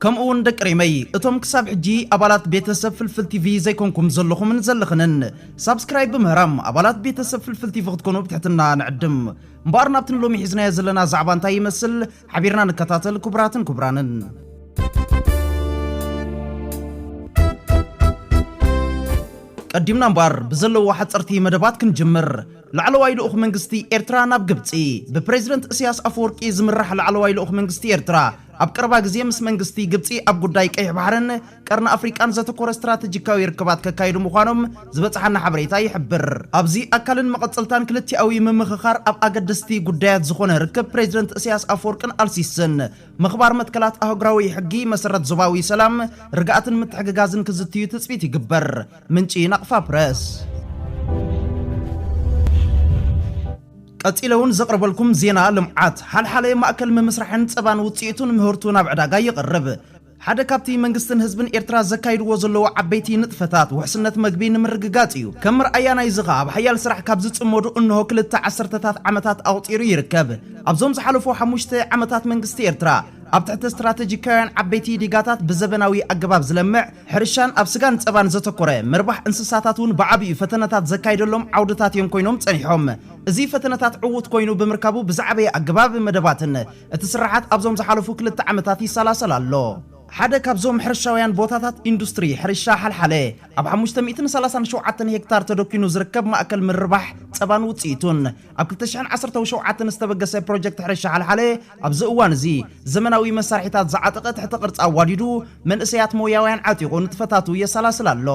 ከምኡ ውን ደቂ ሪመይ እቶም ክሳብ ሕጂ ኣባላት ቤተ ሰብ ፍልፍል ቲቪ ዘይኮንኩም ዘለኹምን ዘለኽንን ሳብስክራይብ ብምህራም ኣባላት ቤተ ሰብ ፍልፍል ቲቪ ክትኮኑ ብትሕትና ንዕድም። እምበኣር ናብቲ ንሎሚ ሒዝናዮ ዘለና ዛዕባ እንታይ ይመስል ሓቢርና ንከታተል ክቡራትን ክቡራንን። ቀዲምና እምበኣር ብዘለዎ ሓጸርቲ መደባት ክንጅምር። ላዕለዋይ ልኡኽ መንግስቲ ኤርትራ ናብ ግብጺ። ብፕረዚደንት እስያስ ኣፈወርቂ ዝምራሕ ላዕለዋይ ልኡኽ መንግስቲ ኤርትራ ኣብ ቀረባ ግዜ ምስ መንግስቲ ግብጺ ኣብ ጉዳይ ቀይሕ ባሕርን ቀርኒ ኣፍሪቃን ዘተኮረ ስትራተጂካዊ ርክባት ከካይዱ ምዃኖም ዝበጽሓና ሓበሬታ ይሕብር። ኣብዚ ኣካልን መቐጸልታን ክልቲኣዊ ምምኽኻር ኣብ ኣገደስቲ ጉዳያት ዝኾነ ርክብ ፕሬዚደንት እስያስ ኣፍወርቅን ኣልሲስን ምኽባር መትከላት ኣህጉራዊ ሕጊ፣ መሰረት ዞባዊ ሰላም፣ ርግኣትን ምትሕግጋዝን ክዝትዩ ትጽቢት ይግበር። ምንጪ ናቕፋ ፕረስ። ቀጺለ ውን ዘቕርበልኩም ዜና ልምዓት ሓልሓለ ማእከል ምምስራሕን ጸባን ውጽኢቱን ምህርቱ ናብ ዕዳጋ የቕርብ። ሓደ ካብቲ መንግስትን ህዝብን ኤርትራ ዘካይድዎ ዘለዉ ዓበይቲ ንጥፈታት ውሕስነት መግቢ ንምርግጋጽ እዩ። ከም መርኣያ ናይዚ ከኣ ኣብ ሓያል ስራሕ ካብ ዝጽመዱ እንሆ ክልተ ዓሰርተታት ዓመታት ኣቑጺሩ ይርከብ። ኣብዞም ዝሓለፉ ሓሙሽተ ዓመታት መንግስቲ ኤርትራ ኣብ ትሕቲ ስትራተጂካውያን ዓበይቲ ዲጋታት ብዘበናዊ ኣገባብ ዝለምዕ ሕርሻን ኣብ ስጋን ጸባን ዘተኮረ ምርባሕ እንስሳታት እውን ብዓቢኡ ፈተነታት ዘካይደሎም ዓውድታት እዮም ኮይኖም ጸኒሖም። እዚ ፈተነታት ዕዉት ኮይኑ ብምርካቡ ብዝዓበየ ኣገባብ መደባትን እቲ ስርሓት ኣብዞም ዝሓለፉ ክልተ ዓመታት ይሰላሰል ኣሎ። ሓደ ካብዞም ሕርሻውያን ቦታታት ኢንዱስትሪ ሕርሻ ሓልሓለ ኣብ ሓሙሽተ ሚእትን ሰላሳን ሸውዓተን ሄክታር ተደኲኑ ዝርከብ ማእከል ምርባሕ ጸባን ውጽኢቱን፣ ኣብ ክልተ ሽሕን ዓሰርተው ሸውዓተን ዝተበገሰ ፕሮጀክት ሕርሻ ሓልሓለ ኣብዚ እዋን እዚ ዘመናዊ መሳርሒታት ዝዓጠቐ ትሕተ ቅርፂ ኣዋዲዱ መንእሰያት ሞያውያን ዓጢቑ ንጥፈታቱ የሰላስል ኣሎ።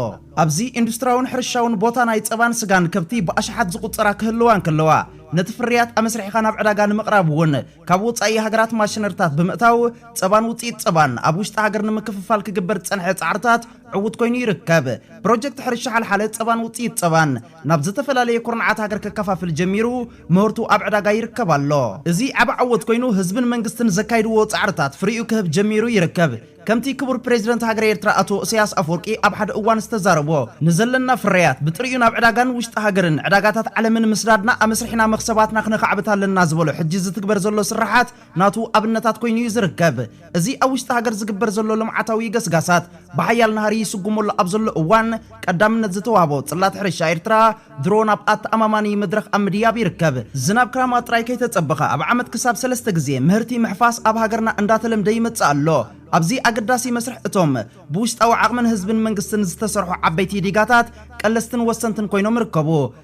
ኣብዚ ኢንዱስትራውን ሕርሻውን ቦታ ናይ ፀባን ስጋን ከብቲ ብኣሽሓት ዝቑፀራ ክህልዋ እንከለዋ ነቲ ፍርያት ኣመስሪሕኻ ናብ ዕዳጋ ንምቕራብ እውን ካብ ወፃኢ ሃገራት ማሽነሪታት ብምእታው ፀባን ውፅኢት ፀባን ኣብ ውሽጢ ሃገር ንምክፍፋል ክግበር ዝፀንሐ ፃዕርታት ዕውት ኮይኑ ይርከብ። ፕሮጀክት ሕርሻ ሓልሓለ ፀባን ውፅኢት ፀባን ናብ ዝተፈላለየ ኩርንዓት ሃገር ከከፋፍል ጀሚሩ ምህርቱ ኣብ ዕዳጋ ይርከብ ኣሎ። እዚ ዓቢ ዓወት ኮይኑ ህዝብን መንግስትን ዘካይድዎ ጻዕርታት ፍሪኡ ክህብ ጀሚሩ ይርከብ። ከምቲ ክቡር ፕረዚደንት ሃገረ ኤርትራ ኣቶ እሰያስ ኣፍወርቂ ኣብ ሓደ እዋን ዝተዛረቦ፣ ንዘለና ፍርያት ብጥሪኡ ናብ ዕዳጋን ውሽጢ ሃገርን ዕዳጋታት ዓለምን ምስዳድና ኣመስሪሕና መኽሰባትና ክነኻዕብት ኣለና ዝበሎ ሕጂ ዝትግበር ዘሎ ስርሓት ናቱ ኣብነታት ኮይኑ እዩ ዝርከብ። እዚ ኣብ ውሽጢ ሃገር ዝግበር ዘሎ ልምዓታዊ ገስጋሳት ብሓያል ናህሪ ይስጉመሉ ኣብ ዘሎ እዋን ቀዳምነት ዝተዋህቦ ጽላት ሕርሻ ኤርትራ ድሮ ናብ ኣተኣማማኒ መድረኽ ኣብ ምድያብ ይርከብ። ዝናብ ክራማት ጥራይ ከይተጸበኸ ኣብ ዓመት ክሳብ ሰለስተ ግዜ ምህርቲ ምሕፋስ ኣብ ሃገርና እንዳተለምደ ይመጽእ ኣሎ። ኣብዚ ኣገዳሲ መስርሕ እቶም ብውሽጣዊ ዓቕምን ህዝብን መንግስትን ዝተሰርሑ ዓበይቲ ዲጋታት ቀለስትን ወሰንትን ኮይኖም ይርከቡ።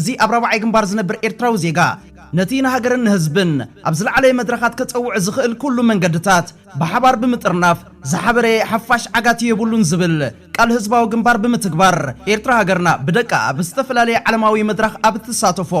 እዚ ኣብ ራብዓይ ግንባር ዝነብር ኤርትራዊ ዜጋ፣ ነቲ ንሃገርን ንህዝብን ኣብ ዝለዓለ መድረኻት ከጸውዕ ዝኽእል ኩሉ መንገድታት ብሓባር ብምጥርናፍ ዝሓበረ ሓፋሽ ዓጋቲ የብሉን ዝብል ቃል ህዝባዊ ግንባር ብምትግባር ኤርትራ ሃገርና ብደቃ ኣብ ዝተፈላለየ ዓለማዊ መድራኽ ኣብ እትሳተፎ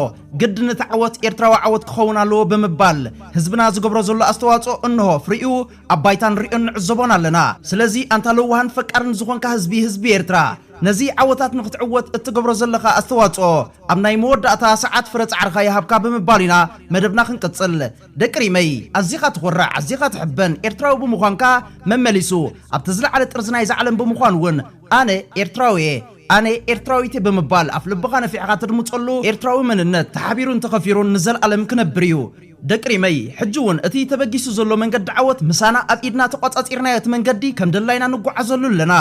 ግድን እቲ ዓወት ኤርትራዊ ዓወት ክኸውን ኣለዎ ብምባል ህዝብና ዝገብሮ ዘሎ ኣስተዋጽኦ እነሆ ፍሪኡ ኣብ ባይታ ንሪኦን ንዕዘቦን ኣለና። ስለዚ ኣንታ ለዋህን ፈቃርን ዝኾንካ ህዝቢ ህዝቢ ኤርትራ! ነዚ ዓወታት ንክትዕወት እትገብሮ ዘለኻ ኣስተዋጽኦ ኣብ ናይ መወዳእታ ሰዓት ፍረ ጻዕርኻ ይሃብካ ብምባል ኢና መደብና ክንቅጽል። ደቂ ሪመይ ኣዚኻ ትኾርዕ ኣዚኻ ትሕበን ኤርትራዊ ብምዃንካ መመሊሱ ኣብቲ ዝለዓለ ጥርዚ ናይዛ ዓለም ብምዃን ውን ኣነ ኤርትራዊ'የ ኣነ ኤርትራዊት'የ ብምባል ኣፍልብኻ ነፊሕኻ ተድምጸሉ ኤርትራዊ መንነት ተሓቢሩን ተኸፊሩን ንዘልኣለም ክነብር እዩ። ደቂ ሪመይ ሕጂ ውን እቲ ተበጊሱ ዘሎ መንገዲ ዓወት ምሳና ኣብ ኢድና ተቋጻጺርናዮ እቲ መንገዲ ከም ደላይና ንጓዓዘሉ ኣለና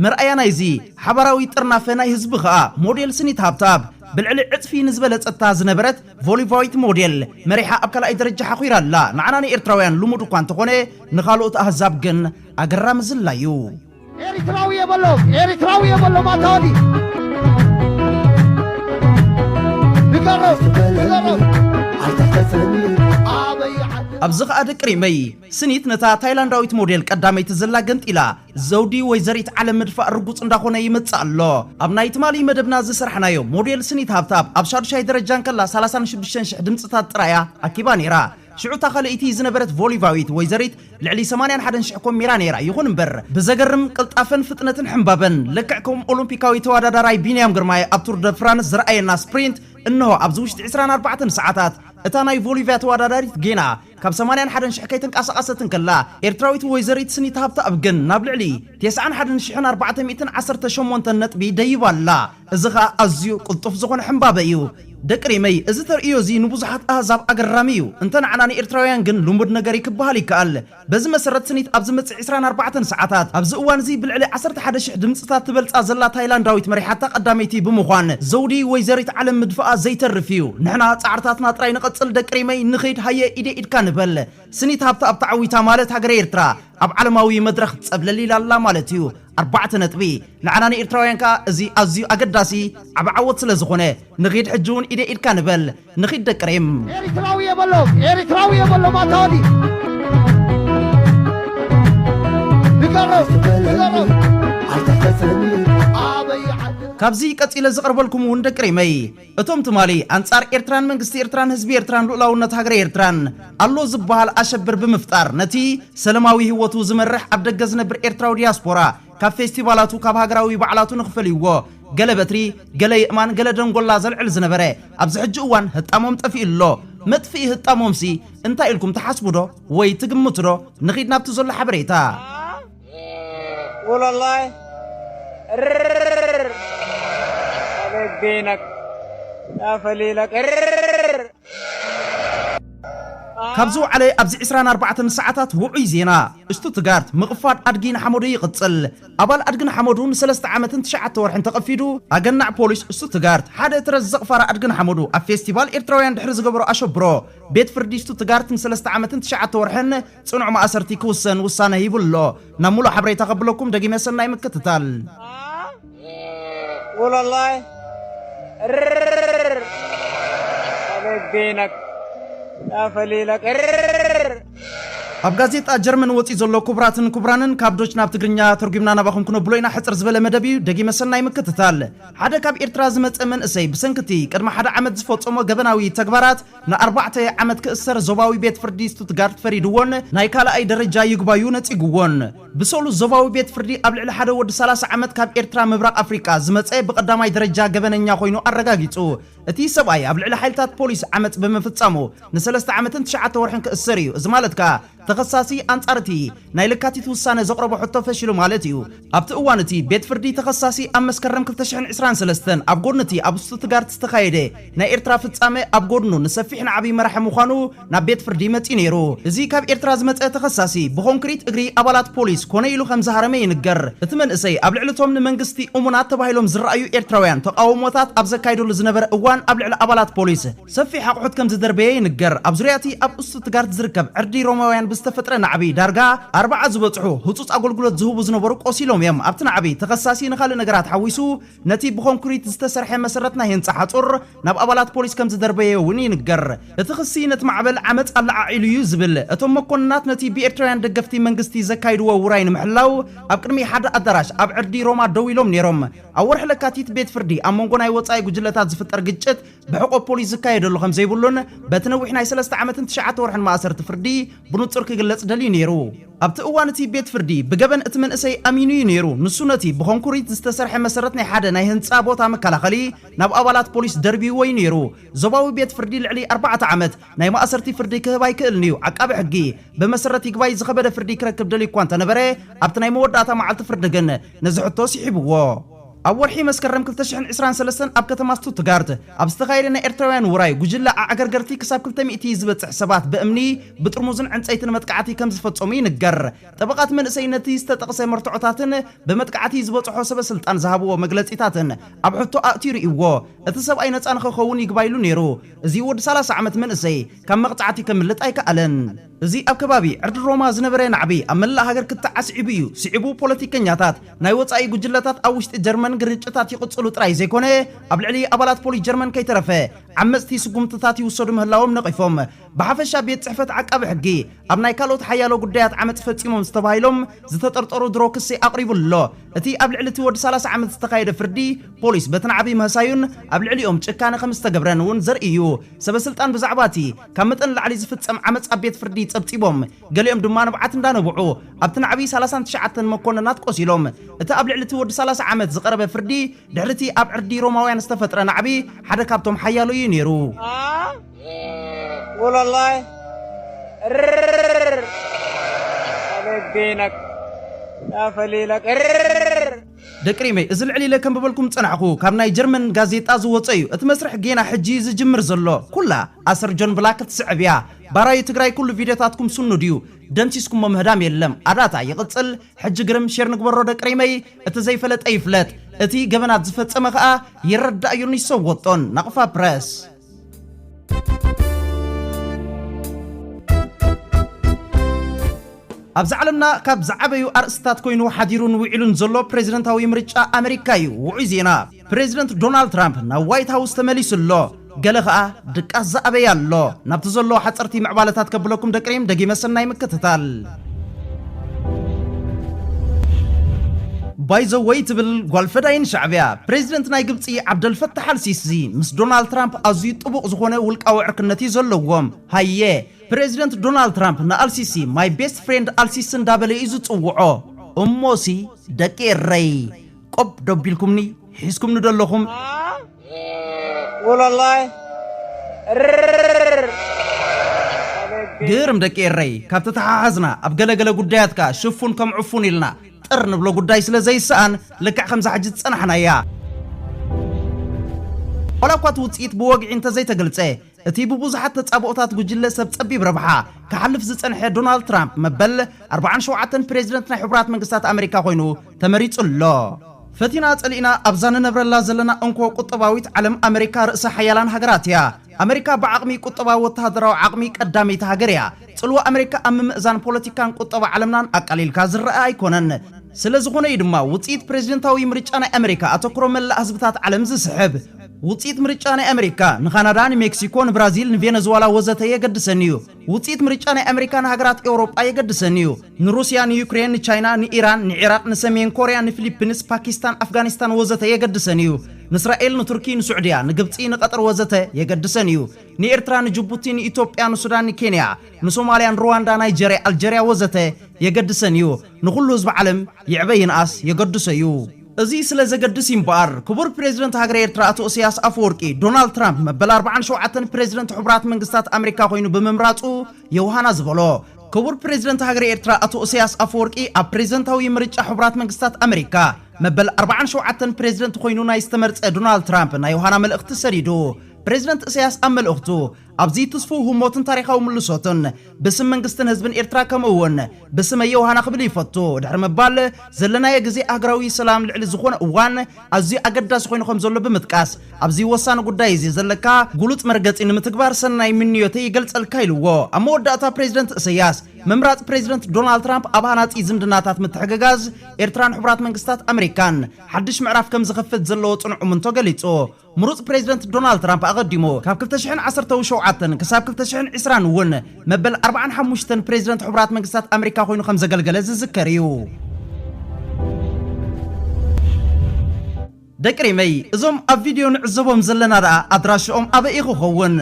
መርኣያ ናይዚ ሓባራዊ ጥርናፈ ናይ ህዝቢ ከኣ ሞዴል ስኒት ሃብታብ ብልዕሊ ዕጽፊ ንዝበለጸታ ዝነበረት ቮሊቫዊት ሞዴል መሪሓ ኣብ ካልኣይ ደረጃ ሓኩራ ኣላ ንዓና ንኤርትራውያን ልሙድ እኳ እንተኾነ ንኻልኦት ኣህዛብ ግን ኣገራሚ ዝላዩ ኤሪትራዊ የበሎም ኤሪትራዊ የበሎም ኣታወዲ ንገሮም ንገሮም ኣበይ ዓዲ ኣብዚ ኸኣ ደቂ ሪመይ ስኒት ነታ ታይላንዳዊት ሞዴል ቀዳመይቲ ዘላ ገንጢላ ዘውዲ ወይዘሪት ዓለም ምድፋእ ርጉፅ እንዳኾነ ይመፅእ ኣሎ ኣብ ናይ ትማሊ መደብና ዝሰራሕናዮ ሞዴል ስኒት ሃብታብ ኣብ ሻዱሻይ ደረጃ እንከላ 36 ሽሕ ድምፅታት ጥራያ ኣኪባ ነይራ ሽዑ እታ ኸልእይቲ ዝነበረት ቮሊቫዊት ወይዘሪት ልዕሊ ሰማንያን ሓደን ሽሕ ኮሚራ ነይራ። ይኹን እምበር ብዘገርም ቅልጣፈን ፍጥነትን ሕምባበን፣ ልክዕ ከም ኦሎምፒካዊ ተወዳዳራይ ቢንያም ግርማይ ኣብ ቱር ደ ፍራንስ ዘርኣየና ስፕሪንት፣ እንሆ ኣብዚ ውሽጢ ዕስራን ኣርባዕተን ሰዓታት እታ ናይ ቮሊቫ ተወዳዳሪት ጌና ካብ ሰማንያን ሓደን ሽሕ ከይተንቀሳቐሰት እንከላ፣ ኤርትራዊት ወይዘሪት ስኒት ሃብተኣብ ግን ናብ ልዕሊ ቴስዓን ሓደን ሽሕን ኣርባዕተ ሚእትን ዓሰርተ ሸሞንተን ነጥቢ ደይባ ኣላ። እዚ ኸኣ ኣዝዩ ቅልጡፍ ዝኾነ ሕምባበ እዩ። ደቂ ሪመይ፣ እዚ ተርእዮ እዚ ንብዙሓት ኣህዛብ ኣገራሚ እዩ። እንተ ንዓና ንኤርትራውያን ግን ልሙድ ነገር እዩ ክበሃል ይከኣል። በዚ መሰረት ስኒት ኣብ ዝመጽእ ዕስራን ኣርባዕተን ሰዓታት፣ ኣብዚ እዋን እዚ ብልዕሊ ዓሰርተ ሓደ ሽሕ ድምጽታት ትበልጻ ዘላ ታይላንዳዊት መሪሓታ ቀዳመይቲ ብምዃን ዘውዲ ወይዘሪት ዓለም ምድፋኣ ዘይተርፍ እዩ። ንሕና ጻዕርታትና ጥራይ ንቐጽል ደቂ ሪመይ፣ ንኺድ ሃየ ኢደይ ኢድካ ንበል። ስኒት ሃብተ ኣብ ተዓዊታ ማለት ሃገረ ኤርትራ ኣብ ዓለማዊ መድረኽ ጸብለል ኢላ ኣላ ማለት እዩ። ኣርባዕተ ነጥቢ። ንዓና ንኤርትራውያን ከኣ እዚ ኣዝዩ ኣገዳሲ ዓቢ ዓወት ስለ ዝኾነ ንኺድ ሕጂ ውን ኢደይ ኢድካ ንበል ንኺድ ደቂ ሪም። ኤሪትራዊ የበሎም ኤሪትራዊ የበሎም ኣታ ወዲ ንገሮም ንገሮም ኣበይ ዓዲ ካብዚ ቀጺለ ዝቐርበልኩም ውን ደቂ ሪመይ እቶም ትማሊ ኣንጻር ኤርትራን መንግስቲ ኤርትራን ህዝቢ ኤርትራን ሉኡላውነት ሃገረ ኤርትራን ኣሎ ዝብሃል ኣሸብር ብምፍጣር ነቲ ሰለማዊ ሂወቱ ዝመርሕ ኣብ ደገ ዝነብር ኤርትራዊ ድያስፖራ ካብ ፌስቲቫላቱ ካብ ሃገራዊ በዓላቱ ንኽፈልይዎ ገለ በትሪ ገለ የእማን ገለ ደንጎላ ዘልዕል ዝነበረ ኣብዚ ሕጂ እዋን ህጣሞም ጠፊኡ ኣሎ። መጥፍኢ ህጣሞምሲ እንታይ ኢልኩም ትሓስቡዶ ወይ ትግምቱዶ? ንኺድ ናብቲ ዘሎ ሓበሬታ። ዉለላይ እርርርርርር ኣበይ ገይነክ ኣፈሊለክ እርርርርርር። ካብ ዝወዓለ ኣብዚ ዕስራን ኣርባዕተን ሰዓታት ውዑይ ዜና እሽቱትጋርት፣ ምቕፋድ ኣድጊ ንሓመዱ ይቕጽል። ኣባል ኣድጊ ንሓመዱ ንሰለስተ ዓመትን ትሽዓተ ወርሕን ተቐፊዱ፣ ኣገናዕ ፖሊስ እሽቱትጋርት፣ ሓደ እትረ ዝዘቕፋራ ኣድጊ ንሓመዱ ኣብ ፌስቲቫል ኤርትራውያን ድሕሪ ዝገበሮ ኣሸብሮ፣ ቤት ፍርዲ እሽቱትጋርት ንሰለስተ ዓመትን ትሽዓተ ወርሕን፣ ጽኑዕ ማእሰርቲ ክውሰን ውሳነ ሂቡ ኣሎ። ናብ ምሉእ ሓበሬታ ከብለኩም ደጊመ ሰናይ ምክትታል። Walalai. Rrrr. Alagdinak. Nafalilak. Rrrr. ኣብ ጋዜጣ ጀርመን ወፂኡ ዘሎ ክቡራትን ክቡራንን ካብ ዶች ናብ ትግርኛ ተርጒምና ናባኹም ክነብሎ ኢና ሕፅር ዝበለ መደብ እዩ ደጊመ ሰናይ ምክትታል ሓደ ካብ ኤርትራ ዝመፀ መንእሰይ ብሰንኪ እቲ ቅድሚ ሓደ ዓመት ዝፈፀሞ ገበናዊ ተግባራት ንኣርባዕተ ዓመት ክእሰር ዞባዊ ቤት ፍርዲ ስቱትጋርት ፈሪድዎን ናይ ካልኣይ ደረጃ ይግባዩ ነጺግዎን። ብሰሉስ ዞባዊ ቤት ፍርዲ ኣብ ልዕሊ ሓደ ወዲ ሰላሳ ዓመት ካብ ኤርትራ ምብራቕ ኣፍሪቃ ዝመጸ ብቐዳማይ ደረጃ ገበነኛ ኮይኑ ኣረጋጊጹ። እቲ ሰብኣይ ኣብ ልዕሊ ሓይልታት ፖሊስ ዓመጽ ብምፍጻሙ ንሰለስተ ዓመትን ትሽዓተ ወርሕን ክእሰር እዩ። እዚ ማለት ከኣ ተኸሳሲ ኣንጻር እቲ ናይ ለካቲት ውሳነ ዘቕረቦ ሕቶ ፈሺሉ ማለት እዩ። ኣብቲ እዋን እቲ ቤት ፍርዲ ተኸሳሲ ኣብ መስከረም ክልተ ሽሕን ዕስራን ሰለስተን ኣብ ጎድኒ እቲ ኣብ ስቱትጋርት ዝተኻየደ ናይ ኤርትራ ፍጻመ ኣብ ጎድኑ ንሰፊሕን ዓብይ መራሒ ምዃኑ ናብ ቤት ፍርዲ መጺኡ ነይሩ። እዚ ካብ ኤርትራ ዝመጸ ተኸሳሲ ብኮንክሪት እግሪ ኣባላት ፖሊስ ኮነ ኢሉ ከምዝሃረመ ይንገር። እቲ መንእሰይ ኣብ ልዕሊ እቶም ንመንግስቲ እሙናት ተባሂሎም ዝረኣዩ ኤርትራውያን ተቓውሞታት ኣብ ዘካይደሉ ዝነበረ እዋን ኣብ ልዕሊ ኣባላት ፖሊስ ሰፊሕ ኣቑሑት ከም ዝደርበየ ይንገር። ኣብ ዙርያ እቲ ኣብ ኡስቱትጋርት ዝርከብ ዕርዲ ሮማውያን ብዝተፈጥረ ናዕቢ፣ ዳርጋ ኣርባዓ ዝበጽሑ ህጹጽ ኣገልግሎት ዝህቡ ዝነበሩ ቆሲሎም እዮም። ኣብቲ ናዕቢ፣ ተኸሳሲ ንኻልእ ነገራት ሓዊሱ ነቲ ብኮንክሪት ዝተሰርሐ መሰረት ናይ ህንጻ ሓጹር ናብ ኣባላት ፖሊስ ከም ዝደርበየ እውን ይንገር። እቲ ክሲ ነቲ ማዕበል ዓመጽ ኣለዓዒሉ እዩ ዝብል። እቶም መኮንናት ነቲ ብኤርትራውያን ደገፍቲ መንግስቲ ዘካይድዎ ውራይ ንምሕላው ኣብ ቅድሚ ሓደ ኣዳራሽ ኣብ ዕርዲ ሮማ ደው ኢሎም ነይሮም። ኣብ ወርሒ ለካቲት ቤት ፍርዲ ኣብ መንጎ ናይ ወጻኢ ጉጅለታት ዝፍጠር ግጭት ብሕቆ ፖሊስ ዝካየደሉ ከም ዘይብሉን በቲ ነዊሕ ናይ ሰለስተ ዓመትን ትሽዓተ ወርሕን ማእሰርቲ ፍርዲ ብንጹር ክግለጽ ደልዩ ነይሩ። ኣብቲ እዋን እቲ ቤት ፍርዲ ብገበን እቲ መንእሰይ ኣሚኑ እዩ ነይሩ፣ ንሱ ነቲ ብኮንኩሪት ዝተሰርሐ መሰረት ናይ ሓደ ናይ ህንጻ ቦታ መከላኸሊ ናብ ኣባላት ፖሊስ ደርብይዎ እዩ ነይሩ። ዞባዊ ቤት ፍርዲ ልዕሊ ኣርባዕተ ዓመት ናይ ማእሰርቲ ፍርዲ ክህብ ኣይክእልን'ዩ፣ ዓቃቢ ሕጊ ብመሰረት ይግባይ ዝኸበደ ፍርዲ ክረክብ ደልዩ'ኳ እንተነበረ ኣብቲ ናይ መወዳእታ መዓልቲ ፍርዲ ግን ነዚ ሕቶ ስሒብዎ። ኣብ ወርሒ መስከረም ክልተ ሽሕን ዕስራን ሰለስተን ኣብ ከተማ ስቱትጋርት ኣብ ዝተኻየደ ናይ ኤርትራውያን ውራይ፣ ጉጅለ ኣዕገርገርቲ ክሳብ ክልተ ሚእቲ ዝበጽሕ ሰባት ብእምኒ፣ ብጥርሙዝን ዕንጸይትን መጥቃዕቲ ከም ዝፈጸሙ ይንገር። ጠበቓ እቲ መንእሰይ ነቲ ዝተጠቕሰ መርትዖታትን ብመጥቃዕቲ ዝበጽሖ ሰበስልጣን ዝሃብዎ መግለጺታትን ኣብ ሕቶ ኣእትዩ ርእይዎ እቲ ሰብኣይ ነጻ ንኸኸውን ይግባይ ኢሉ ነይሩ። እዚ ወዲ ሰላሳ ዓመት መንእሰይ ካብ መቕጻዕቲ ከምልጥ ኣይከኣለን። እዚ ኣብ ከባቢ ዕርዲ ሮማ ዝነበረ ናዕቢ ኣብ መላእ ሃገር ክትዕ ኣስዒቡ እዩ። ስዒቡ ፖለቲከኛታት ናይ ወጻኢ ጉጅለታት ኣብ ውሽጢ ጀርመን ግርጭታት ይቕጽሉ ጥራይ ዘይኮነ ኣብ ልዕሊ ኣባላት ፖሊስ ጀርመን ከይተረፈ ዓመጽቲ ስጉምትታት ይውሰዱ ምህላዎም ነቒፎም። ብሓፈሻ ቤት ጽሕፈት ዓቃቢ ሕጊ ኣብ ናይ ካልኦት ሓያሎ ጉዳያት ዓመጽ ፈጺሞም ዝተባሂሎም ዝተጠርጠሩ ድሮ ክሲ ኣቕሪቡሉ ኣሎ። እቲ ኣብ ልዕሊ እቲ ወዲ ሰላሳ ዓመት ዝተኻየደ ፍርዲ ፖሊስ በቲ ናዕቢ ምህሳዩን ኣብ ልዕሊኦም ጭካነ ከም ዝተገብረን እውን ዘርኢ እዩ። ሰበስልጣን ብዛዕባ እቲ ካብ መጠን ንላዕሊ ዝፍጸም ዓመጽ ኣብ ቤት ፍርዲ ጸብጺቦም፣ ገሊኦም ድማ ንብዓት እንዳነብዑ፣ ኣብቲ ናዕቢ ሰላሳን ትሽዓተን መኮነናት ቆሲሎም። እቲ ኣብ ልዕሊ'ቲ ወዲ ሰላሳ ዓመት ዝቐረበ ፍርዲ፣ ድሕሪ'ቲ ኣብ ዕርዲ ሮማውያን ዝተፈጥረ ናዕቢ ሓደ ካብቶም ሓያሎ እዩ ነይሩ። ደቂ ሪመይ እዚ ልዕል ኢለ ከንብበልኩም ዝጸናሕኩ ካብ ናይ ጀርመን ጋዜጣ ዝወጸ እዩ እቲ መስርሕ ጌና ሕጂ እዩ ዝጅምር ዘሎ ኩላ ኣሰር ጆን ብላክ ክትስዕብ እያ ባራዩ ትግራይ ኩሉ ቪድዮታትኩም ስኑድ እዩ ደምሲስኩሞ ምህዳም የለም ኣዳታ ይቅጽል ሕጂ ግርም ሼር ንግበሮ ደቂ ሪመይ እቲ ዘይፈለጠ ይፍለጥ እቲ ገበናት ዝፈጸመ ከኣ ይረዳእ እዮን ይሰወጦን ናቅፋ ፕረስ ኣብዚ ዓለምና ካብ ዝዓበዩ ኣርእስትታት ኮይኑ ሓዲሩን ውዒሉን ዘሎ ፕረዚደንታዊ ምርጫ ኣመሪካ እዩ። ውዑይ ዜና፣ ፕረዚደንት ዶናልድ ትራምፕ ናብ ዋይት ሃውስ ተመሊሱ ኣሎ። ገለ ከኣ ድቃስ ዝኣበየ ኣሎ። ናብቲ ዘሎ ሓጸርቲ ምዕባለታት ከብለኩም ደቂ ሪም ደጊመ ሰናይ ምክትታል። ባይዘወይ ትብል ጓል ፈዳይን ሻዕብያ ፕሬዚደንት ናይ ግብፂ ዓብደልፈታሕ ኣልሲሲ ምስ ዶናልድ ትራምፕ ኣዝዩ ጥቡቕ ዝኾነ ውልቃዊ ዕርክነት እዩ ዘለዎም። ሃየ ፕሬዚደንት ዶናልድ ትራምፕ ንኣልሲሲ ማይ ቤስት ፍሬንድ ኣልሲሲ እንዳበለ እዩ ዝፅውዖ። እሞሲ ደቂ ኤረይ ቆብ ዶ ኣቢልኩምኒ ሒዝኩምኒ ዶ ኣለኹም? ወላላይ ግርም ደቂ ኤረይ ካብ ተተሓሓዝና ኣብ ገለገለ ጉዳያት ከኣ ሽፉን ከም ዕፉን ኢልና ጥር ንብሎ ጉዳይ ስለ ዘይሰኣን ልክዕ ከምዛ ሕጂ ዝጸናሕናያ ዋላ እኳ እቲ ውጽኢት ብወግዒ እንተዘይተገልጸ እቲ ብብዙሓት ተጻብኦታት ጉጅለ ሰብ ጸቢብ ረብሓ ክሓልፍ ዝጸንሐ ዶናልድ ትራምፕ መበል ኣርብዓን ሸውዓተን ፕሬዚደንት ናይ ሕቡራት መንግስታት ኣመሪካ ኮይኑ ተመሪጹ ኣሎ። ፈቲና ጸሊእና ኣብዛ ንነብረላ ዘለና እንኮ ቁጠባዊት ዓለም ኣመሪካ ርእሰ ሓያላን ሃገራት እያ። ኣመሪካ ብዓቕሚ ቁጠባዊ ወተሃደራዊ ዓቕሚ ቀዳመይቲ ሃገር እያ። ጽልዋ ኣመሪካ ኣብ ምምእዛን ፖለቲካን ቁጠባ ዓለምናን ኣቃሊልካ ዝረኣ ኣይኮነን። ስለዝኾነ እዩ ድማ ውጽኢት ፕሬዚደንታዊ ምርጫ ናይ ኣመሪካ ኣተኩሮ መላእ ህዝብታት ዓለም ዝስሕብ። ውጽኢት ምርጫ ናይ ኣመሪካ ንካናዳ፣ ንሜክሲኮ፣ ንብራዚል፣ ንቬነዝዋላ ወዘተ የገድሰን እዩ። ውጽኢት ምርጫ ናይ ኣመሪካ ንሃገራት ኤውሮጳ የገድሰን እዩ። ንሩስያ፣ ንዩክሬን፣ ንቻይና፣ ንኢራን፣ ንዒራቕ፣ ንሰሜን ኮርያ፣ ንፊሊፕንስ፣ ፓኪስታን፣ ኣፍጋኒስታን ወዘተ የገድሰን እዩ። ንእስራኤል፣ ንቱርኪ፣ ንሱዕድያ፣ ንግብጺ፣ ንቐጠር ወዘተ የገድሰን እዩ። ንኤርትራ፣ ንጅቡቲ፣ ንኢትዮጵያ፣ ንሱዳን፣ ንኬንያ፣ ንሶማልያ፣ ንሩዋንዳ፣ ናይጀርያ፣ ኣልጀርያ ወዘተ የገድሰን እዩ። ንኹሉ ህዝቢ ዓለም ይዕበ ይንኣስ የገድሶ እዩ። እዚ ስለ ዘገድስ እዩ እምበኣር፣ ክቡር ፕረዚደንት ሃገረ ኤርትራ ኣቶ እሰያስ ኣፈወርቂ፣ ዶናልድ ትራምፕ መበል ኣርብዓን ሸውዓተን ፕረዚደንት ሕቡራት መንግስታት ኣመሪካ ኮይኑ ብምምራጹ የውሃና ዝበሎ። ክቡር ፕረዚደንት ሃገረ ኤርትራ ኣቶ እሰያስ ኣፈወርቂ፣ ኣብ ፕረዚደንታዊ ምርጫ ሕቡራት መንግስታት ኣመሪካ መበል ኣርብዓን ሸውዓተን ፕረዚደንት ኮይኑ ናይ ዝተመርጸ ዶናልድ ትራምፕ ናይ የውሃና መልእኽቲ ሰዲዱ። ፕረዚደንት እሰያስ ኣብ መልእኽቱ፣ ኣብዚ ትስፉው ህሞትን ታሪኻዊ ምልሶትን ብስም መንግስትን ህዝብን ኤርትራ ከምኡውን ብስመይ ዮውሃና ክብል ይፈቱ ድሕሪ ምባል ዘለናዮ ግዜ ኣህግራዊ ሰላም ልዕሊ ዝኾነ እዋን ኣዝዩ ኣገዳሲ ኮይኑ ከም ዘሎ ብምጥቃስ ኣብዚ ወሳኒ ጉዳይ እዚ ዘለካ ግሉጽ መርገጺ ንምትግባር ሰናይ ምንዮተይ ይገልጸልካ ኢልዎ። ኣብ መወዳእታ ፕሬዚደንት እሰያስ ምምራጽ ፕሬዚደንት ዶናልድ ትራምፕ ኣብ ሃናጺ ዝምድናታት ምትሕግጋዝ ኤርትራን ሕቡራት መንግስታት ኣመሪካን ሓድሽ ምዕራፍ ከም ዝኸፍት ዘለዎ ጽኑዕ እምንቶ ገሊጹ። ምሩጽ ፕሬዚደንት ዶናልድ ትራምፕ ኣቐዲሙ ካብ ክልተ ሽሕን ዓሰርተው ሸውዓተን ክሳብ ክልተ ሽሕን ዕስራን እውን መበል ኣርብዓን ሓሙሽተን ፕሬዚደንት ሕቡራት መንግስታት ኣመሪካ ኮይኑ ከም ዘገልገለ ዝዝከር እዩ። ደቂ ሪመይ እዞም ኣብ ቪድዮ ንዕዘቦም ዘለና ደኣ ኣድራሽኦም ኣበይ እዩ ክኸውን?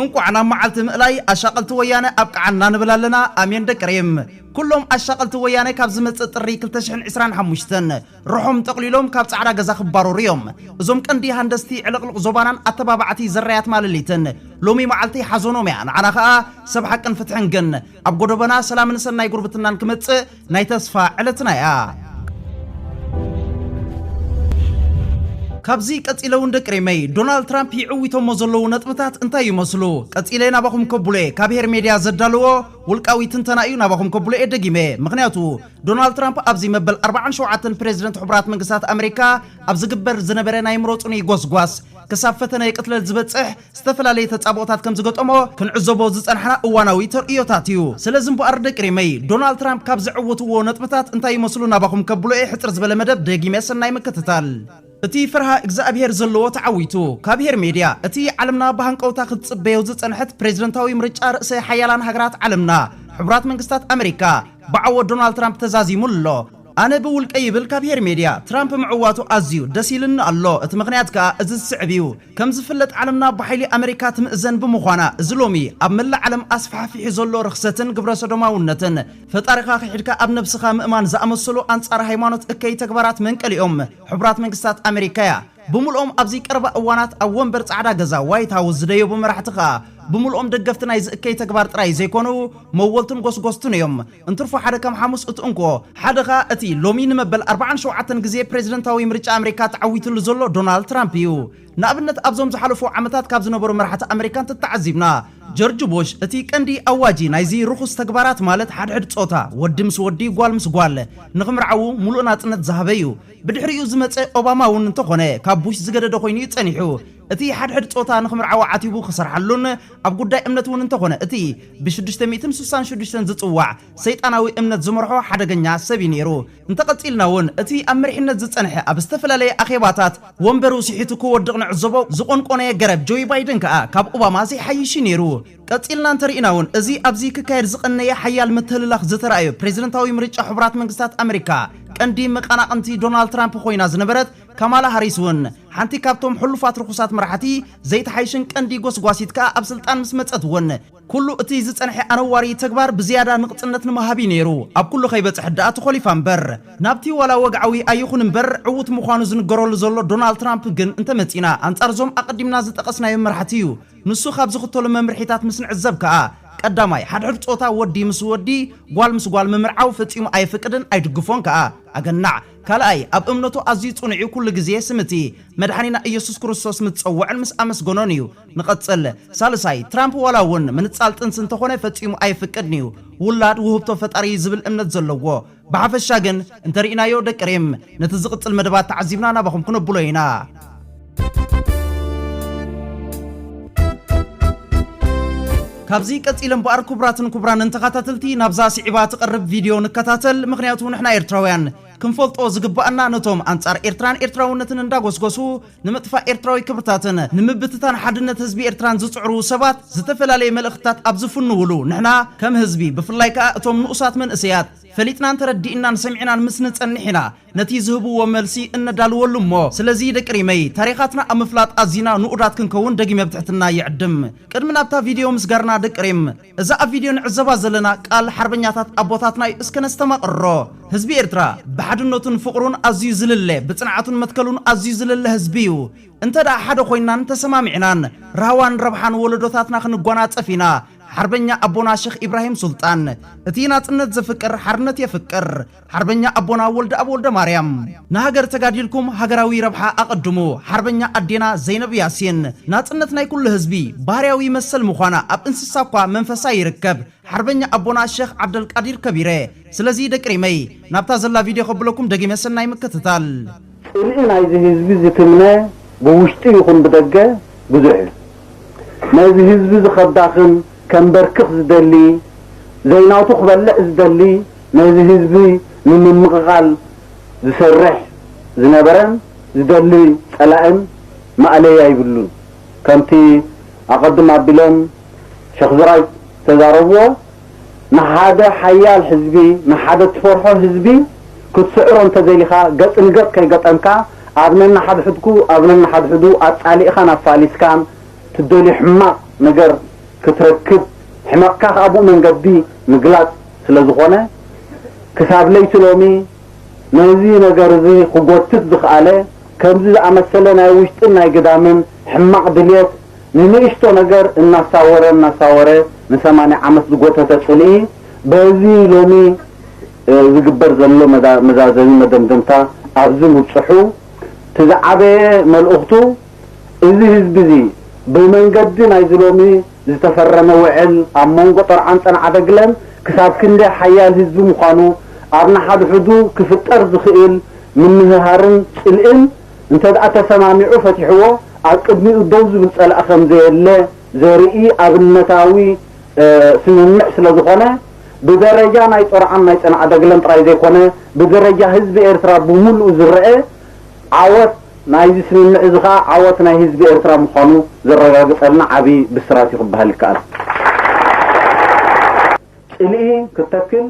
እንቋዕ ናብ መዓልቲ ምእላይ ኣሻቀልቲ ወያነ ኣብቀዓና ንብል ኣለና ኣሜን ደቂ ሪም ኩሎም ኣሻቀልቲ ወያነ ካብ ዝመጽእ ጥሪ ክልተ ሽሕን ዕስራን ሓሙሽተን ርሖም ጠቅሊሎም ካብ ጻዕዳ ገዛ ክባረሩ እዮም እዞም ቀንዲ ሃንደስቲ ዕልቅልቅ ዞባናን ኣተባባዕቲ ዘራያት ማለሊትን ሎሚ መዓልቲ ሓዞኖም እያ ንዓና ከኣ ሰብ ሓቅን ፍትሕን ግን ኣብ ጎዶበና ሰላምን ሰናይ ጉርብትናን ክመጽእ ናይ ተስፋ ዕለትና እያ። ካብዚ ቀጺለ እውን ደቂ ሪመይ ዶናልድ ትራምፕ ይዕዊቶሞ ዘለዉ ነጥብታት እንታይ ይመስሉ ቀጺለ ናባኹም ከብሎ እየ ካብ ሄር ሜድያ ዘዳለዎ ውልቃዊ ትንተና እዩ ናባኹም ከብሎ እየ ደጊመ ምኽንያቱ ዶናልድ ትራምፕ ኣብዚ መበል ኣርብዓን ሸውዓተን ፕሬዚደንት ሕቡራት መንግስታት ኣመሪካ ኣብ ዝግበር ዝነበረ ናይ ምረጹኒ ጎስጓስ ክሳብ ፈተነ ቅትለት ዝበጽሕ ዝተፈላለየ ተጻብኦታት ከም ዝገጠሞ ክንዕዘቦ ዝጸናሕና እዋናዊ ተርእዮታት እዩ። ስለዚ እምበኣር ደቂ ሪመይ፣ ዶናልድ ትራምፕ ካብ ዘዕወትዎ ነጥብታት እንታይ ይመስሉ ናባኹም ከብሎ እየ ሕጽር ዝበለ መደብ ደጊመ ሰናይ ምክትታል። እቲ ፈርሃ እግዝኣብሄር ዘለዎ ተዓዊቱ። ካብ ሄር ሜድያ፣ እቲ ዓለምና ብሃንቀውታ ክትጽበዮ ዝጸንሐት ፕሬዝደንታዊ ምርጫ ርእሰ ሓያላን ሃገራት ዓለምና ሕቡራት መንግስታት ኣመሪካ ብዓወት ዶናልድ ትራምፕ ተዛዚሙ ኣሎ። ኣነ ብውልቀይ ይብል ካብ ሄሪ ሜድያ፣ ትራምፕ ምዕዋቱ ኣዝዩ ደስ ኢልኒ ኣሎ፣ እቲ ምኽንያት ከኣ እዚ ዝስዕብ እዩ፣ ከም ዝፍለጥ ዓለምና ብሓይሊ ኣመሪካ ትምእዘን ብምዃና፣ እዚ ሎሚ ኣብ መላእ ዓለም ኣስፋሕፊሑ ዘሎ ርኽሰትን ግብረሰዶማውነትን፣ ፈጣሪኻ ክሒድካ ኣብ ነብስኻ ምእማን ዝኣመሰሉ ኣንጻር ሃይማኖት እከይ ተግባራት መንቀሊኦም ሕቡራት መንግስታት ኣመሪካ'ያ። ብምልኦም ኣብዚ ቀረባ እዋናት ኣብ ወንበር ጻዕዳ ገዛ፣ ዋይት ሃውስ፣ ዝደየቡ መራሕቲ ከኣ ብምልኦም ደገፍቲ ናይዚ እከይ ተግባር ጥራይ ዘይኮኑ፣ መወልቱን ጎስጎስቱን እዮም። እንትርፎ ሓደ ከም ሓሙስ እቲ እንኮ፣ ሓደ ከኣ እቲ ሎሚ ንመበል ኣርብዓን ሸውዓተን ግዜ ፕሬዝደንታዊ ምርጫ ኣመሪካ ተዓዊትሉ ዘሎ ዶናልድ ትራምፕ እዩ። ንኣብነት ኣብዞም ዝሓለፉ ዓመታት ካብ ዝነበሩ መራሕቲ ኣመሪካ እንተተዓዚብና፣ ጀርጅ ቡሽ እቲ ቀንዲ ኣዋጂ ናይዚ ርኹስ ተግባራት ማለት ሓድሕድ ጾታ፣ ወዲ ምስ ወዲ ጓል ምስ ጓል፣ ንኽምርዓዉ ሙሉእ ናጽነት ዝሃበ እዩ። ብድሕሪኡ ዝመጸ ኦባማ እውን እንተኾነ ካብ ቡሽ ዝገደደ ኮይኑ እዩ ጸኒሑ። እቲ ሓድሕድ ጾታ ንኽምርዓዋ ዓቲቡ ክሰርሓሉን ኣብ ጉዳይ እምነት እውን እንተኾነ እቲ ብሽዱሽተ ሚእትን ስሳን ሽዱሽተን ዝጽዋዕ ሰይጣናዊ እምነት ዝመርሖ ሓደገኛ ሰብ እዩ ነይሩ። እንተቐጺልና እውን እቲ ኣብ መሪሕነት ዝጸንሐ ኣብ ዝተፈላለየ ኣኼባታት ወንበሩ ስሒቱ ክወድቕ ንዕዘቦ፣ ዝቖንቆነየ ገረብ ጆይ ባይደን ከኣ ካብ ኦባማ ዘይሓይሽ እዩ ነይሩ። ቀጺልና እንተርኢና እውን እዚ ኣብዚ ክካየድ ዝቐነየ ሓያል ምትህልላኽ ዝተራእዮ ፕሬዚደንታዊ ምርጫ ሕቡራት መንግስታት ኣመሪካ ቀንዲ መቐናቕንቲ ዶናልድ ትራምፕ ኮይና ዝነበረት ካማላ ሃሪስ እውን ሓንቲ ካብቶም ሕሉፋት ርኹሳት መራሕቲ ዘይተሓይሽን ቀንዲ ጎስጓሲት ከኣ ኣብ ስልጣን ምስ መጸት እውን ኩሉ እቲ ዝጸንሐ ኣነዋሪ ተግባር ብዝያዳ ንቕጽነት ንምሃብ እዩ ነይሩ ኣብ ኩሉ ከይበጽሐት ደኣ ተኾሊፋ እምበር። ናብቲ ዋላ ወግዓዊ ኣይኹን እምበር ዕዉት ምዃኑ ዝንገረሉ ዘሎ ዶናልድ ትራምፕ ግን እንተመጺእና ኣንጻር እዞም ኣቐዲምና ዝጠቐስናዮም መራሕቲ እዩ ንሱ ካብ ዝኽተሎ መምርሒታት ምስ ንዕዘብ ከኣ ቀዳማይ ሓድሕድ ጾታ ወዲ ምስ ወዲ ጓል ምስ ጓል ምምርዓው ፈጺሙ ኣየፍቅድን ኣይድግፎን ከኣ ኣገናዕ ካልኣይ፣ ኣብ እምነቱ ኣዝዩ ጽኑዕ እዩ፣ ኩሉ ግዜ ስም እቲ መድሓኒና እየሱስ ክርስቶስ ምስ ጸወዐን ምስ ኣመስገኖን እዩ። ንቐጽል። ሳልሳይ፣ ትራምፕ ዋላ እውን ምንጻል ጥንሲ እንተኾነ ፈጺሙ ኣየፍቅድን እዩ፣ ውላድ ውህብቶ ፈጣሪ እዩ ዝብል እምነት ዘለዎ። ብሓፈሻ ግን እንተሪኢናዮ ደቂ ሪም ነቲ ዝቕጽል መደባት ተዓዚብና ናባኹም ክነብሎ ኢና። ካብዚ ቀጺለ እምበኣር ኩቡራትን ኩቡራንን ተኻታተልቲ ናብዛ ሲዒባ ትቐርብ ቪድዮ ንከታተል ምኽንያቱ ንሕና ኤርትራውያን ክንፈልጦ ዝግባኣና ነቶም ኣንጻር ኤርትራን ኤርትራውነትን እንዳጎስጎሱ ንምጥፋእ ኤርትራዊ ክብርታትን ንምብትታን ሓድነት ህዝቢ ኤርትራን ዝጽዕሩ ሰባት ዝተፈላለየ መልእኽትታት ኣብ ዝፍንውሉ ንሕና ከም ህዝቢ ብፍላይ ከኣ እቶም ንኡሳት መንእሰያት ፈሊጥናን ተረዲእናን ሰሚዕናን ምስ ንጸንሕ ኢና ነቲ ዝህብዎ መልሲ እነዳልወሉ እሞ ስለዚ ደቂ ሪመይ ታሪኻትና ኣብ ምፍላጥ ኣዚና ንኡዳት ክንከውን ደጊመ ብትሕትና ይዕድም። ቅድሚ ናብታ ቪድዮ ምስጋርና ደቂ ሪም እዛ ኣብ ቪድዮ ንዕዘባ ዘለና ቃል ሓርበኛታት ኣቦታትና እዩ እስከ ነስተማቕሮ። ህዝቢ ኤርትራ ብሓድነቱን ፍቕሩን ኣዚዩ ዝልለ ብጽንዓቱን መትከሉን ኣዚዩ ዝልለ ህዝቢ እዩ። እንተድኣ ሓደ ኮይናን ተሰማሚዕናን ራህዋን ረብሓን ወለዶታትና ክንጓናጸፍ ኢና። ሓርበኛ ኣቦና ሸኽ ኢብራሂም ሱልጣን እቲ ናጽነት ዘፍቅር ሓርነት የፍቅር። ሓርበኛ ኣቦና ወልደኣብ ወልደማርያም። ንሃገር ተጋዲልኩም ሃገራዊ ረብሓ ኣቐድሙ። ሓርበኛ ኣዴና ዘይነብ ያሲን። ናጽነት ናይ ኩሉ ህዝቢ። ባህርያዊ መሰል ምዃና ኣብ እንስሳ እኳ መንፈሳ ይርከብ። ሓርበኛ ኣቦና ሸኽ ዓብደልቃዲር ከቢረ። ስለዚ ደቂ ሪመይ ናብታ ዘላ ቪድዮ ከብለኩም ደጊመ ሰናይ ምክትታል። ጽልኢ ናይዚ ህዝቢ ዝትምነ ብውሽጢ ይኹን ብደገ ብዙሕ እዩ። ነዚ ህዝቢዚ ከዳኽም ከምበርክኽ ዝደሊ ዘይናቱ ክበልዕ ዝደሊ ነዚ ህዝቢ ንምምቕቓል ዝሰርሕ ዝነበረን ዝደሊ ጸላእን ማእለያ ኣይብሉን። ከምቲ ኣቐድም ኣቢሎም ሸኽ ዝራይ ዝተዛረብዎ ንሓደ ሓያል ህዝቢ፣ ንሓደ እትፈርሖ ህዝቢ ክትስዕሮ እንተደሊኻ፣ ገጽ ንገጽ ከይገጠምካ፣ ኣብ ነንሓድሕድኩ ኣብ ነንሓድሕዱ ኣጻሊእኻን ኣፋሊስካን ትደልዮ ሕማቕ ነገር ክትረክብ፣ ሕመቕካ ከኣ ብኡ መንገዲ ምግላጽ ስለ ዝኾነ፣ ክሳብ ለይቲ ሎሚ ነዚ ነገር እዚ ክጎትት ዝኸኣለ፣ ከምዚ ዝኣመሰለ ናይ ውሽጥን ናይ ግዳምን ሕማቕ ድልየት ንንእሽቶ ነገር እናሳወረ እናሳወረ ንሰማንያ ዓመት ዝጎተተ ጽልኢ በዚ ሎሚ ዝግበር ዘሎ መዛዘሚ መደምደምታ ኣብዚ ምብጽሑ እቲ ዝዓበየ መልእኽቱ እዚ ህዝቢ እዚ ብመንገዲ ናይዚ ሎሚ ዝተፈረመ ውዕል ኣብ መንጎ ጠርዓን ጸንዓደግለን ክሳብ ክንደይ ሓያል ህዝቢ ምዃኑ ኣብ ንሓድሕዱ ክፍጠር ዝኽእል ምንህሃርን ጽልእን እንተድኣ ተሰማሚዑ ፈቲሕዎ ኣብ ቅድሚኡ ደው ዝብል ጸላኢ ከምዘየለ ዘርኢ ኣብነታዊ ስምምዕ ስለዝኾነ ብደረጃ ናይ ጾርዓን ናይ ጸንዓደግለን ጥራይ ዘይኮነ ብደረጃ ህዝቢ ኤርትራ ብምሉኡ ዝረኣ ዓወት ናይዚ ስምምዕ እዚ ከኣ ዓወት ናይ ህዝቢ ኤርትራ ምዃኑ ዘረጋግጸልና ዓቢ ብስራት እዩ ክበሃል ይከኣል። ጽልኢ ክተክል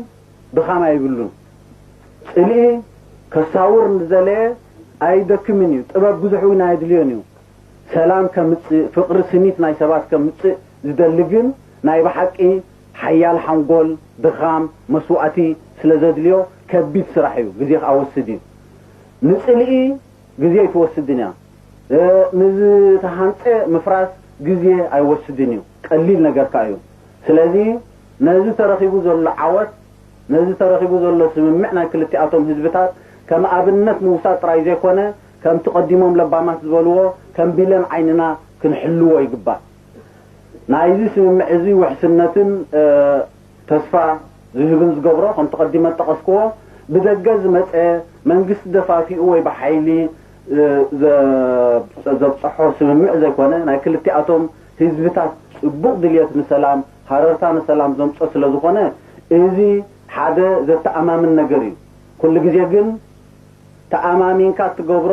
ድኻም ኣይብሉን ጽልኢ ከሳውር ንዝደለየ ኣይደክምን እዩ ጥበብ ብዙሕ እውን ኣየድልዮን እዩ ሰላም ከምጽእ ፍቕሪ ስኒት ናይ ሰባት ከምጽእ ዝደሊ ግን ናይ ብሓቂ ሓያል ሓንጎል ድኻም መስዋእቲ ስለ ዘድልዮ ከቢድ ስራሕ እዩ ግዜ ኣወስድ እዩ ንጽልኢ ግዜ ኣይትወስድን እያ ንዝተሃንጸ ምፍራስ ግዜ ኣይወስድን እዩ ቀሊል ነገር ከኣ እዩ ስለዚ ነዚ ተረኺቡ ዘሎ ዓወት፣ ነዚ ተረኺቡ ዘሎ ስምምዕ ናይ ክልቲኣቶም ህዝብታት ከም ኣብነት ምውሳድ ጥራይ ዘይኮነ፣ ከምቲ ቀዲሞም ለባማት ዝበልዎ ከም ቢለን ዓይንና ክንሕልዎ ይግባእ። ናይዚ ስምምዕ እዚ ውሕስነትን ተስፋ ዝህብን ዝገብሮ፣ ከምቲ ቀዲመ ዝጠቐስክዎ፣ ብደገ ዝመጸ መንግስቲ ደፋፊኡ ወይ ብሓይሊ ዘብጸሖ ስምምዕ ዘይኮነ፣ ናይ ክልቲኣቶም ህዝብታት ጽቡቕ ድልየት ንሰላም፣ ሃረርታ ንሰላም ዘምጾ ስለ ዝኾነ እዚ ሓደ ዘተኣማምን ነገር እዩ። ኩሉ ግዜ ግን ተኣማሚንካ እትገብሮ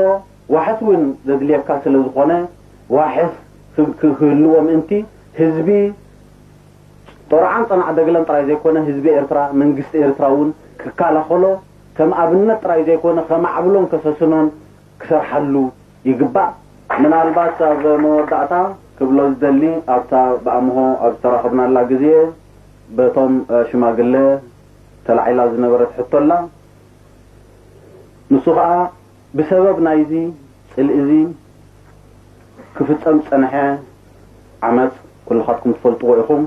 ዋሕስ እውን ዘድልየካ ስለ ዝኾነ ዋሕስ ክህልዎ ምእንቲ ህዝቢ ጦርዓን ጸናዕ ደግለን ጥራይ ዘይኮነ ህዝቢ ኤርትራ መንግስቲ ኤርትራ እውን ክካላኸሎ ከም ኣብነት ጥራይ ዘይኮነ ከማዕብሎን ከሰስኖን ክሰርሓሉ ይግባእ። ምናልባት ኣብ መወዳእታ ክብሎ ዝደሊ ኣብታ ብኣምሆ ኣብ ዝተራኸብናላ ግዜ በቶም ሽማግለ ተላዒላ ዝነበረት ሕቶ ኣላ። ንሱ ከኣ ብሰበብ ናይዚ ጽልኢ'ዚ ክፍጸም ዝጸንሐ ዓመጽ ኩልኻትኩም ትፈልጥዎ ኢኹም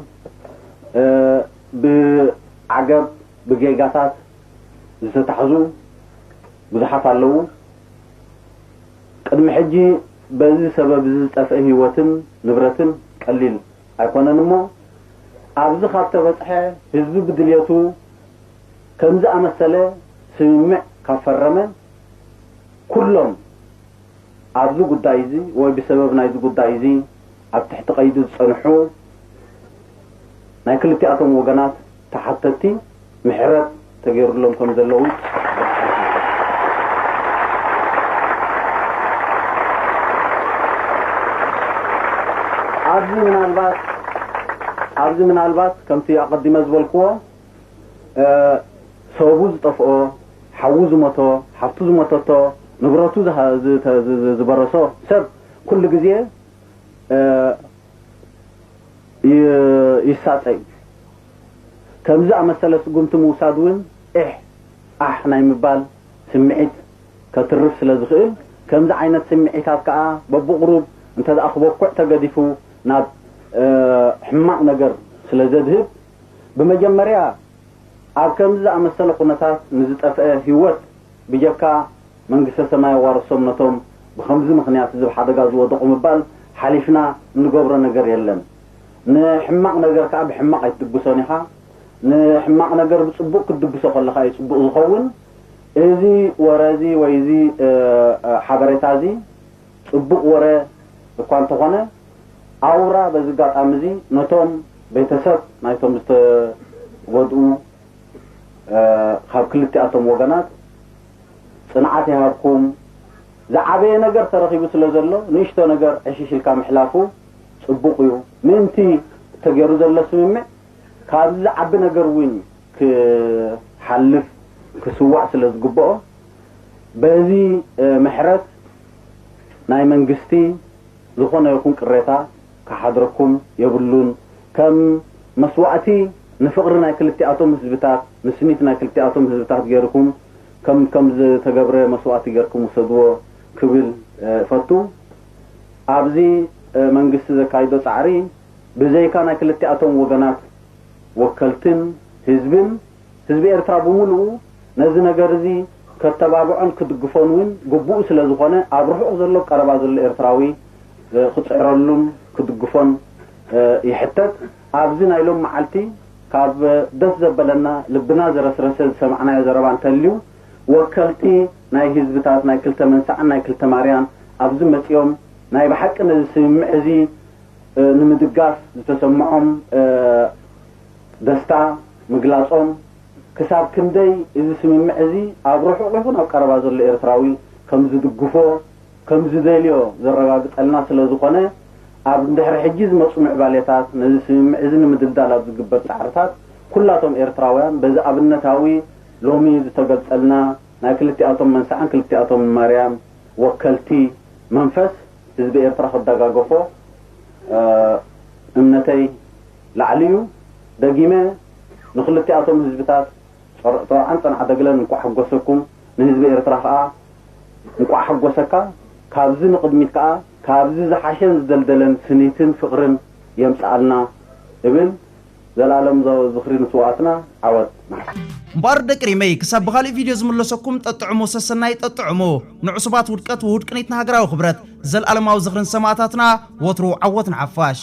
ብዓገብ ብጌጋታት ዝተታሕዙ ብዙሓት ኣለዉ ቅድሚ ሕጂ በዚ ሰበብ እዚ ዝጠፍኤ ሂወትን ንብረትን ቀሊል ኣይኮነን እሞ ኣብዚ ካብ ተበጽሐ ህዝቢ ብድልየቱ ከምዚ ኣመሰለ ስምምዕ ካብ ፈረመ ኩሎም ኣብዚ ጉዳይ እዚ ወይ ብሰበብ ናይዚ ጉዳይ እዚ ኣብ ትሕቲ ቀይዲ ዝጸንሑ ናይ ክልቲኣቶም ወገናት ተሓተቲ ምሕረት ተገይሩሎም ከም ዘሎ እውን ኣብዚ ምናልባት ኣብዚ ምናልባት ከምቲ ኣቐዲመ ዝበልክዎ ሰቡ ዝጠፍኦ ሓዉ ዝሞቶ ሓፍቱ ዝሞተቶ ንብረቱ ዝበረሶ ሰብ ኩሉ ግዜ ይሳጠ እዩ። ከም ዝኣመሰለ ስጉምቲ ምውሳድ እውን ዒሕ ዓሕ ናይ ምባል ስምዒት ከትርፍ ስለ ዝኽእል፣ ከምዚ ዓይነት ስምዒታት ከኣ በብቑሩብ እንተድኣ ክበኩዕ ተገዲፉ ናብ ሕማቕ ነገር ስለ ዘድህብ፣ ብመጀመርያ ኣብ ከምዚ ዝኣመሰለ ኩነታት ንዝጠፍኤ ህይወት፣ ብጀካ መንግስተ ሰማይ የዋርሶም ነቶም ብከምዚ ምክንያት እዚ ብ ሓደጋ ዝወደቁ ምባል ሓሊፍና እንገብሮ ነገር የለን ን ሕማቅ ነገር ከኣ ብሕማቅ ኣይትድግሶን ኢካ ን ሕማቅ ነገር ብጽቡቅ ክትድግሶ ከለካ እዩ ጽቡቅ ዝከውን እዚ ወረ እዚ ወይ እዚ ሓበሬታ እዚ ጽቡቅ ወረ እኳ እንተኮነ ኣውራ በዚ ጋጣሚ እዚ ነቶም ቤተሰብ ናይቶም ዝተጎድኡ ካብ ክልቲኣቶም ወገናት ጽንዓት ይሃብኩም ዝዓበየ ነገር ተረኺቡ ስለ ዘሎ ንእሽቶ ነገር ዕሽሽ ኢልካ ምሕላፉ ጽቡቕ እዩ ምእንቲ ተገይሩ ዘሎ ስምምዕ ካብዚ ዝዓቢ ነገር እውን ክሓልፍ ክስዋእ ስለ ዝግብኦ በዚ ምሕረት ናይ መንግስቲ ዝኾነ ይኹን ቅሬታ ክሓድረኩም የብሉን። ከም መስዋእቲ ንፍቕሪ ናይ ክልቲኣቶም ህዝብታት፣ ንስኒት ናይ ክልቲኣቶም ህዝብታት ገይርኩም ከም ከም ዝተገብረ መስዋእቲ ገይርኩም ውሰድዎ ክብል እፈቱ። ኣብዚ መንግስቲ ዘካይዶ ጻዕሪ ብዘይካ ናይ ክልቲኣቶም ወገናት ወከልትን ህዝብን፣ ህዝቢ ኤርትራ ብምሉኡ ነዚ ነገር እዚ ከተባብዖን ክድግፎን እውን ግቡኡ ስለ ዝኾነ ኣብ ርሑቕ ዘሎ ቀረባ ዘሎ ኤርትራዊ ክጽዕረሉን ክድግፎን ይሕተት። ኣብዚ ናይ ሎም መዓልቲ ካብ ደስ ዘበለና ልብና ዘረስረሰ ዝሰማዕናዮ ዘረባ እንተልዩ ወከልቲ ናይ ህዝብታት ናይ ክልተ መንሳዕን ናይ ክልተ ማርያን ኣብዚ መጺኦም ናይ ብሓቂ ነዚ ስምምዕ እዚ ንምድጋፍ ዝተሰምዖም ደስታ ምግላጾም፣ ክሳብ ክንደይ እዚ ስምምዕ እዚ ኣብ ርሑቕ ይኹን ኣብ ቀረባ ዘሎ ኤርትራዊ ከም ዝድግፎ፣ ከም ዝደልዮ ዘረጋግጸልና ስለ ዝኾነ፣ ኣብ ድሕሪ ሕጂ ዝመጹ ምዕባሌታት ነዚ ስምምዕ እዚ ንምድልዳል ኣብ ዝግበር ጻዕርታት ኩላቶም ኤርትራውያን በዚ ኣብነታዊ ሎሚ ዝተገልጸልና ናይ ክልቲኣቶም መንስዓን ክልቲኣቶምን ማርያም ወከልቲ መንፈስ ህዝቢ ኤርትራ ክደጋገፎ እምነተይ ላዕሊ'ዩ ደጊመ ንክልቲኣቶም ህዝብታት ጾርዓን ጸንዓደግለን እንቋዕ ሓጎሰኩም ንህዝቢ ኤርትራ ከኣ እንቋዕ ሓጎሰካ ካብዚ ንቅድሚት ከኣ ካብዚ ዝሓሸን ዝደልደለን ስኒትን ፍቅርን የምጽኣልና እብል ዘልኣለምዛወ ዝኽሪ ንስውኣትና ዓወት ንሓፋሽ። እምበኣር ደቂ ሪመይ ክሳብ ብኻሊእ ቪድዮ ዝምለሰኩም ጠጥዑሙ ሰሰናዩ ጠጥዑሙ ንዑሱባት ውድቀት ወውድቅኒት ንሃገራዊ ክብረት ዘልኣለማዊ ዝኽሪ ንሰማእታትና ወትሩ ዓወት ንሓፋሽ።